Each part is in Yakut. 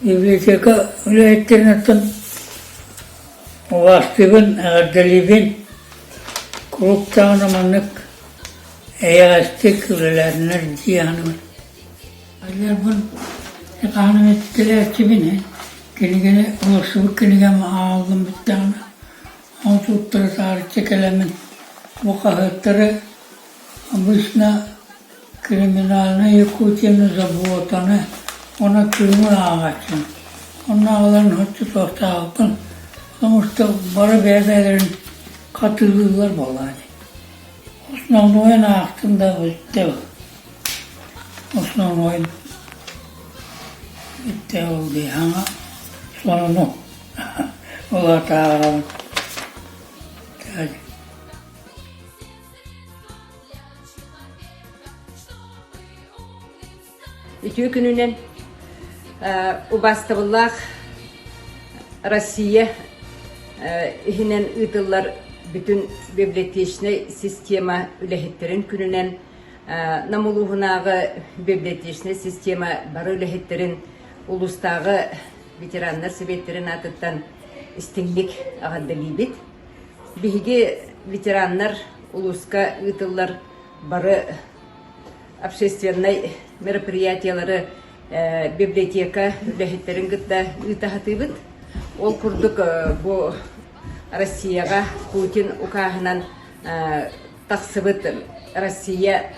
Библиотека үлэһиттэринэттэн убаастыыбын, эҕэрдэлиибин, куруук даҕаны маннык эйэҕэстик үлэлээтиннэр дии саныыбын. Адьарбын хаһан эмэ түстэрээччибин ээ, кинигэни ылсыбыт кинигэм ааҕыллыммыт даҕаны, ол туттара таарыччы кэлэммин, бу хаһыаттары обычно Криминальнай Якутияны забуотаны уонна тыымы ааҕааччым. Онно аҕаларын оччотуохтаахпын, омуктар бары бэйэ-бэйэлэрин хатыылыыллар буоллаҕа дии. Основной-ын аахтым да бүттэ ол. Основной-ын бүттэ ол дыйхаҥа сонуну улаатаҕырабын. Үтүө күнүнэн убастабыллаах Россия иһинэн ыытыллар бүтүн библиотечнай система үлэһиттэрин күнүнэн Нам улууһунааҕы библиотечнай система бары үлэһиттэрин улуустааҕы ветераннар сэбиэттэрин аатыттан истиҥник аҕардалиибит. Биһиги ветераннар улууска ыытыллар бары общественнай мероприятиелары библиотека үлэһиттэрин кытта ыыта сатыыбыт. Ол курдук бу Россияҕа Путин укааһынан тахсыбыт Россия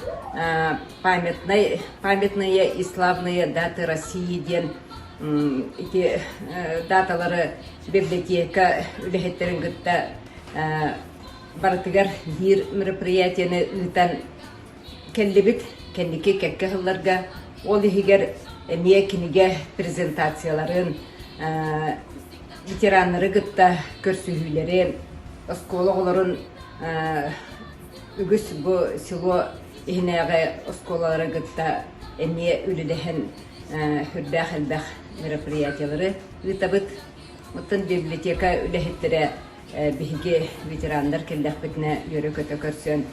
памятной, памятные и славные даты России диэн ити даталары библиотека үлэһиттэрин кытта барытыгар биир мероприятиены ыытан кэллибит кэнники кэкке сылларга ол иһигэр эмиэ кинигэ презентацияларын ветераннары кытта көрсүһүүлэри, оскуола оҕолорун үгүс бу село иһинээҕи оскуолалары кытта эмиэ үлэлэһэн сүрдээх элбэх мероприятиялары ыытабыт. Оттон библиотека үлэһиттэрэ биһиги ветераннар кэллэхпитинэ үөрэ-көтө көрсөн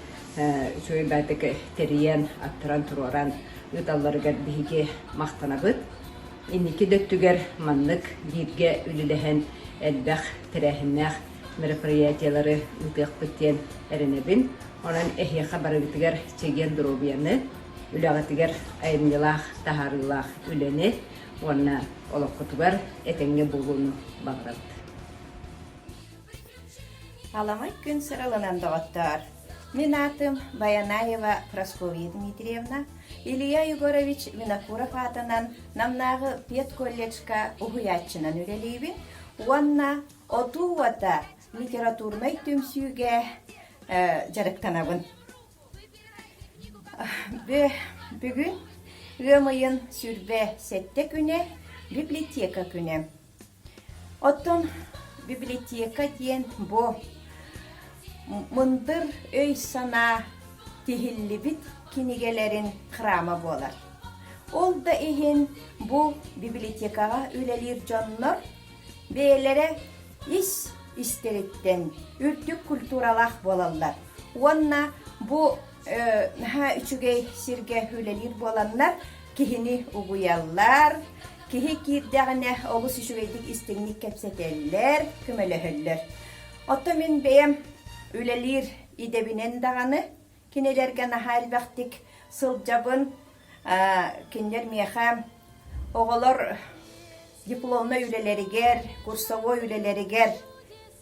үчүгэй баатык тэрийэн, аттаран туруоран ыыталларыгар биһиги махтанабыт. Инники да өттүгэр маннык бииргэ үлэлэһэн элбэх тэрээһиннээх мероприятиелары ыытыахпыт диэн эрэнэбин. Онон эһиэхэ барыгытыгар чэгиэн доруобуйаны, үлэҕитигэр айымньылаах, таһаарыылаах үлэни уонна олоххутугар этэҥҥэ буолууну баҕарабыт. Аламай күн сырылынан доҕоттоор! Мин аатым Баянаева Прасковья Дмитриевна, Илья Егорович Винокуров аатынан Намнааҕы педколледжка уһуйааччынан үлэлиибин уонна отуу уота литературнай түмсүүгэ дьарыктанабын. Бүгүн ыам ыйын сүрбэ сэттэ күнэ, библиотека күнэ. Оттон библиотека диэн бу мындыр өй-санаа тиһиллибит кинигэлэрин храма буолар. Ол да иһин бу библиотекаҕа үлэлиир дьоннор бэйэлэрэ ис истэриттэн үрдүк культуралаах буолаллар уонна бу наһаа үчүгэй сиргэ үлэлиир буоланнар киһини угуйаллар киһи киирдэҕинэ олус үчүгэйдик истиҥник кэпсэтэллэр көмөлөһөллөр оттон мин бэйэм үлэлиир идэбинэн даҕаны кинилэргэ наһаа элбэхтик сылдьабын кинилэр миэхэ оҕолор дипломнай үлэлэригэр, курсовой үлэлэригэр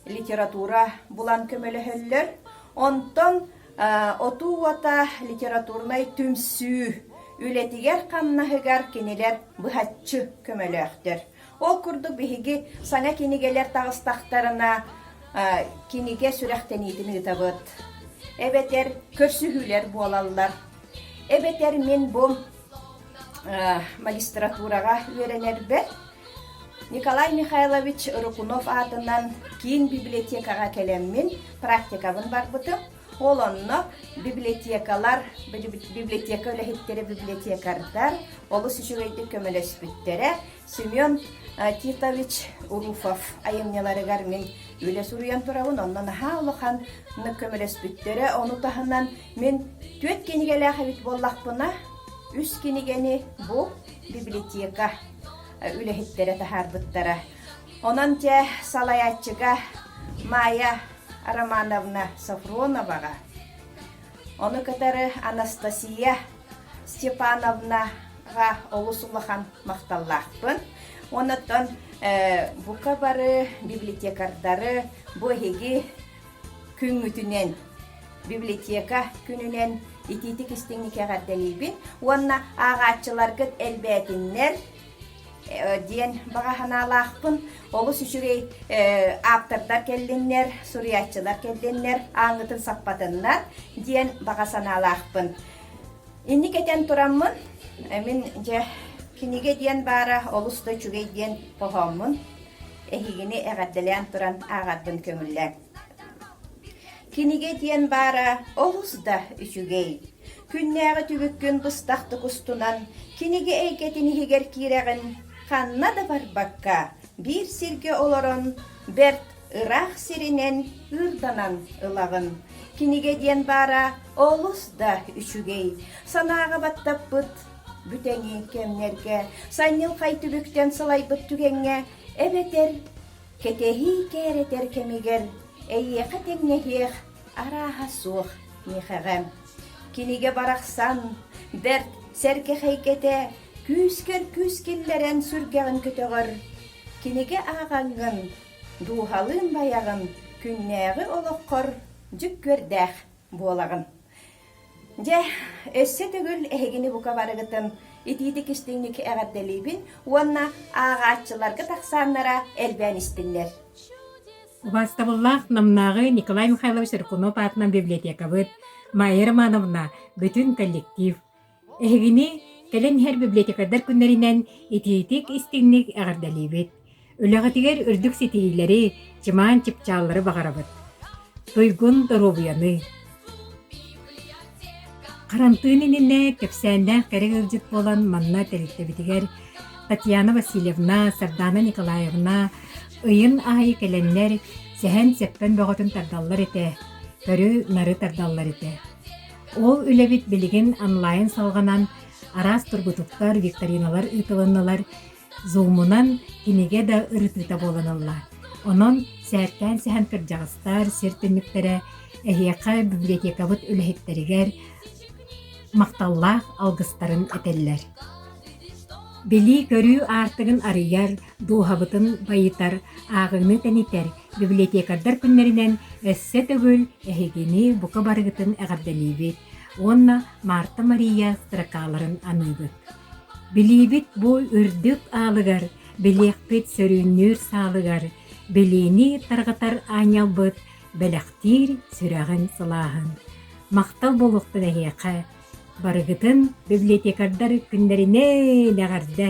литература булан көмөлөһөллөр. Онтон отуу уота литературнай түмсүү үлэтигэр-хамнаһыгар кинилэр быһаччы көмөлөөхтөр. Ол курдук биһиги саҥа кинигэлэр таҕыстахтарына кинигэ сүрэхтэниитин ыытабыт. Эбэтэр көрсүһүүлэр буолаллар. Эбэтэр мин бу магистратураҕа үөрэнэрбэр Николай Михайлович Рыкунов аатынан киин библиотекаҕа кэлэммин практикабын барбытым. Ол онно библиотекалар, библиотека үлэһиттэрэ библиотекардар олус үчүгэйдик көмөлөспүттэрэ. Семен Титович Руфов айымньыларыгар мин үлэ суруйан турабын, онно наһаа улахан көмөлөспүттэрэ. Ону таһынан Мин түөрт кинигэлээх эбит буоллахпына, үс кинигэни бу библиотека үлэһиттэрэ таһаарбыттара. Онон дьэ салайааччыга Майя Романовна Сафроноваҕа, ону кытары Анастасия Степановнаҕа олус улахан махталлаахпын. Онон бука бары библиотекардары бу эһиги Күҥҥүтүнэн библиотека күнүнэн итиитик-истиҥник эҕэрдэлиибин уонна ааҕааччыларгыт элбээтиннэр диэн баҕа санаалаахпын. Олус үчүгэй ааптардар кэллиннэр, суруйааччылар кэллиннэр, ааҥҥытын саппатыннар диэн баҕа санаалаахпын. Инник этэн тураммын, мин дьэ кинигэ диэн баара олус да үчүгэй диэн хоһооммун эһигини эҕэрдэлээн туран ааҕарбын көҥүллээн. Кинигэ диэн баара олус да үчүгэй. Күннээҕи түбүккүн быстахтык устунан кинигэ эйгэтин иһигэр киирэҕин ханна да барбакка биир сиргэ олорон бэрт Ыраах сиринэн ыырданан ылаҕын. Кинигэ диэн баара олус да үчүгэй. Санааҕа баттаппыт бүтэҥи кэмнэргэ, санньылхай түбүктэн сылайбыт түгэҥҥэ эбэтэр кэтэһии кээрэтэр кэмигэр эйиэхэ тэҥнэһиэх арааһа суох миэхэҕэ. Кинигэ барахсан бэрт сэргэхэйгэтэ күүскэр күүс киллэрэн сүргэҕин көтөҕөр. Кинигэ ааҕаҥҥын Дууһалыын байаҕын, күннээҕи олоххор дьүк күөрдээх буолаҕын. Дьэ, өссө төгүл эһигини бука барыгытын итиитик-истиҥник эҕэрдэлиибин уонна ааҕааччыларга тахсааннара элбээн истиннэр. Убаастабыллаах Намнааҕы Николай Михайлович Рыкунов аатынан библиотекабыт Майя Романовна, бүтүн коллектив Эһигини кэлэн иһэр библиотекардар күннэринэн итиитик-истиҥник эҕэрдэлиибит! Үлэҕитигэр үрдүк ситиһиилэри, чымаан чыпчааллары баҕарабыт! Туйгун доруобуйаны! Харантыын иннинэ кэпсээннээх кэрэ ыалдьыт буолан манна тэрилтэбитигэр Татьяна Васильевна, Сардаана Николаевна ыйын аайы кэлэннэр сэһэн-сэппэн бөҕөтүн тардаллар этэ, көрү-нары тардаллар этэ. Ол үлэбит билигин онлайн салҕанан араас тургутуктар, викториналар ыытылыннылар. Зумунан кинигэ да ырытыыта буоланалла. Онон сээккээн сэһэн кырдьаҕастар сир түннүктэрэ эһиэхэ библиотекабыт үлэһиттэригэр махталлаах алгыстарын этэллэр. Билии-көрүү аартыгын арыйар, дууһабытын байытар, ааҕыыны тэнитэр библиотекардар күннэринэн өссө төгүл эһигини бука барыгытын эҕэрдэлиибит уонна Марта Мария строкаларын аныыбыт. Билиибит бу үрдүк аалыгар, билиэхпит сөрүүннүүр саалыгар, билиини тарҕатар аанньалбыт бэлэхтиир сүрэҕин сылааһын. Махтал буолуохтун эһиэхэ. Барыгытын библиотекардар күннэринэн эҕэрдэ!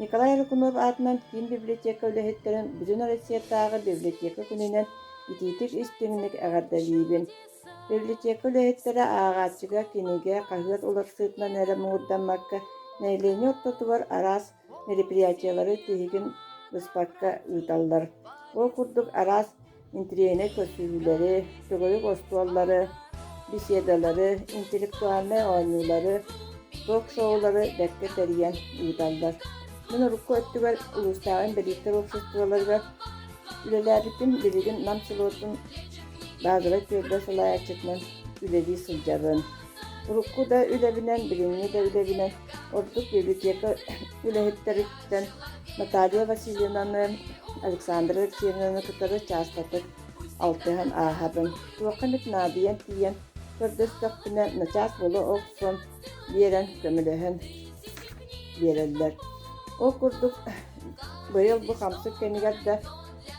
Николай Лукунов аатынан киин библиотека үлэһиттэрин Бүтүн Россиятааҕы библиотека күнүнэн итиитик-истиҥник эҕэрдэлиибин! Библиотека үлэһиттэрэ ааҕааччыга, кинигэ, хаһыат уларсыытынан эрэ муҥурдаммакка, нэһилиэнньэ ортотугар араас мероприятиелары тиһигин быспакка ыыталлар. Ол курдук араас интириэһинэй көрсүһүүлэри, сүгүрүк остуоллары, беседалары, интеллектуальнай оонньуулары, ток-шоулары бэркэ тэрийэн ыыталлар. Мин урукку өттүгэр улуустааҕы инбэлииттэр уопсастыбаларыгар үлэлээбиппин билигин Нам селотун базовай түөлбэ салайааччытынан үлэлии сылдьабын. Урукку да үлэбинэн, билиҥҥи да үлэбинэн ордук библиотека үлэһиттэрин Наталья Васильевнаны, Александра Алексеевнаны кытары чаастатык алтыһан ааһабын. Туохха эмит наадыйан тиийэн көрдөстөхпүнэ, начаас буола охсон биэрэн, көмөлөһөн биэрэллэр. Ол курдук, быйыл бу хамсык кэмигэр да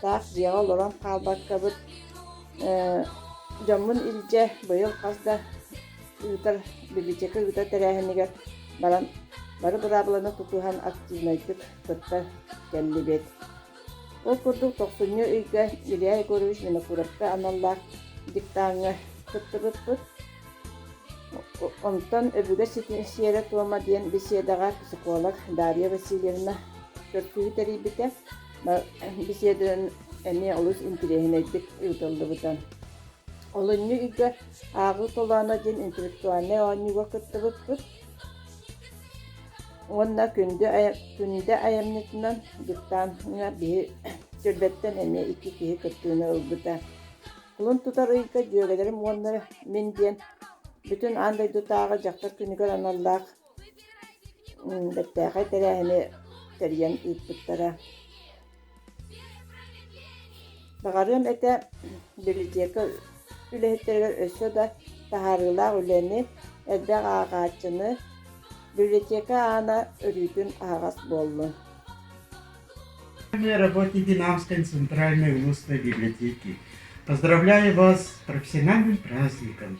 таах дьиэҕэ олорон хаалбаккабыт, дьоммун илдьэ быйыл хас да ыытар бибичэкэ ыытар тэрээһинигэр баран бары быраабыланы тутуһан активнайдык кытта кэллибит. Ол курдук тохсунньу ыйга Илья Егорович Винокуровка аналлаах диктаҥҥа кыттыбыппыт. Онтон Өбүгэ сиэрэ-туома диэн беседаҕа психолог Дарья Васильевна көрсүһүү тэрийбитэ. Беседа эмиэ олус интириэһинэйдик ыытыллыбыта. Олунньу ыйга «Ааҕыы толооно» диэн интеллектуальнай оонньууга кыттыбыппыт уонна күндү күндү айанньытынан диктаҥҥа биһи сүүрбэттэн эмиэ икки киһи кыттыыны ылбыта. Кулун тутар ыйга дьүөгэлэрим уонна мин диэн бүтүн аан дойдутааҕы дьахтар күнүгэр аналлаах бэртээхэй тэрээһини тэрийэн ыыппыттара. Баҕарыам этэ библиотека үлэһиттэригэр өссө да таһаарыылаах үлэни, элбэх ааҕааччыны, библиотека аана өрүүтүн аһаҕас буоллун. Работники Намской центральной устной библиотеки. Поздравляю вас с профессиональным праздником!